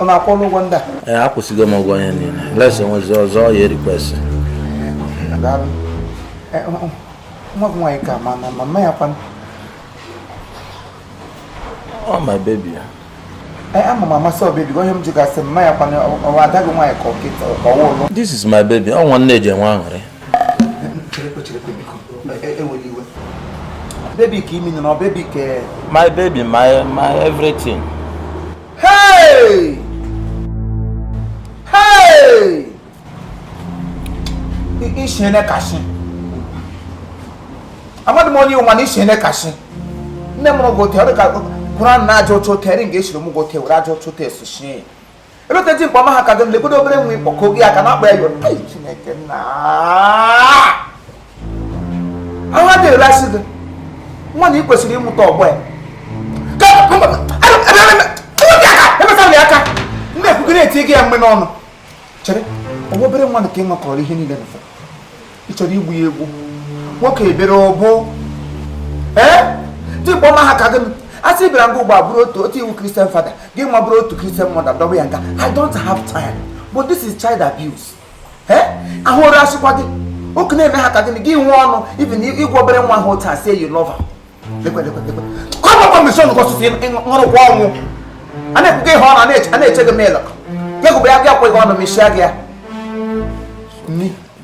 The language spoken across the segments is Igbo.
ọ na akwụọla ụgwọ ndị a ee akwụsịgo m ụgwọ ihe niile unless o nwezi ọzọ ya request nwa gị nwaanyị ka ma na mama ya kwanụ oh my baby ya ama m amasị o baby onye m ji gasị mma ya kwanụ ọ wụ ada gị nwaanyị ka ọ nkịta ka ọ wụ ụlọ this is my baby ọ nwa nne ji enwe aṅụrị Baby ka imi nọ baby ka my baby my my everything. Hey! Hey! Ishi nne kashị. Amadu mo ni o ma na ishi nne kashị. Nne m gote ọ dị ka Quran na-aja otu ote eri nga esiri m gote were aja otu ote esochie ebeta ji mkpa ọma ha ka dị lekwedo obere nwa ịkpọ ka oge ya ka na-akpa ya iwe Ai, Chineke Nna ahụ adịghị rasị gị nwa na ị kwesịrị ịmụta ọgbọ ya emesara ya aka ndị ekwugo na-eti gị ya mgbe n'ọnụ chere ọ wụ obere nwa nke i nwekọrọ ihe niile na ị chọrọ igbu ya egbu nwoke ebere ọ bụ ee dị kpọma ha ka gị asị bịara nga ugbu a bụrụ otu otu i wu Christian father gị nwa bụrụ otu Christian mother dọba ya nga i don't have time but this is child abuse ee ahụrụ asịkwa gị oke na-eme ha ka gịnị gị nwee ọnụ even ịgwa obere nwa ahụ otu a say you love kọbakwa mesi ọnụ gọsụsụ nwụrụkwa ọnwụ a na-ekwuga ihe ọnụ a na-eche gị mịlụ gị gụbụ ya gị akwa gị ọnụ mechie gị ya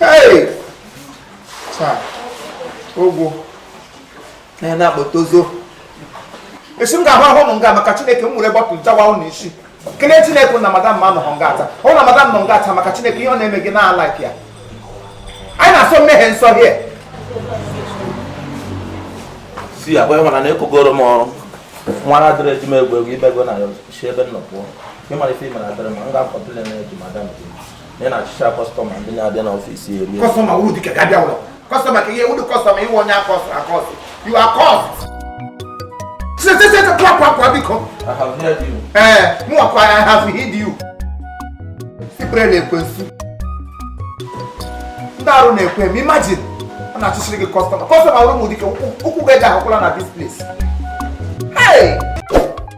Hey! Taa, ogwu na na-akpọta ọzọ. Esi m ga-ahụ ahụ ụnụ nga maka Chineke m were bottle jawa ụnụ isi. Kelee Chineke na madam m anọhọ nga taa. Ọ na madam nọ nga taa maka Chineke ihe ọ na-eme gị na like ya. Anyị na-asọ mmehie nsọ here. See agwa ịhụna na ekogoro m ọrụ. Nwa na address eji m egwu egwu ibego na ya ọzọ. si ebe m nọ pụọ nke mara ife ị mara address m m ga-acomplain eje madam gị na ị na-achụcha customer ndị na-abịa n'office here customer wuru dịka ga-abịa ụlọ customer ka i wuru customer i wu onye akọsụ akọsụ you are cursed sesesese pụọ pụọ pụọ biko I have heard you. ee mụwakwa I have heard you sikpere na ekwensu ndị arụ na-ekwe m imagine a na-achụchiri gị customer customer wuru ụmụ dike ụkwụ gị eji ahụkwala na this place hey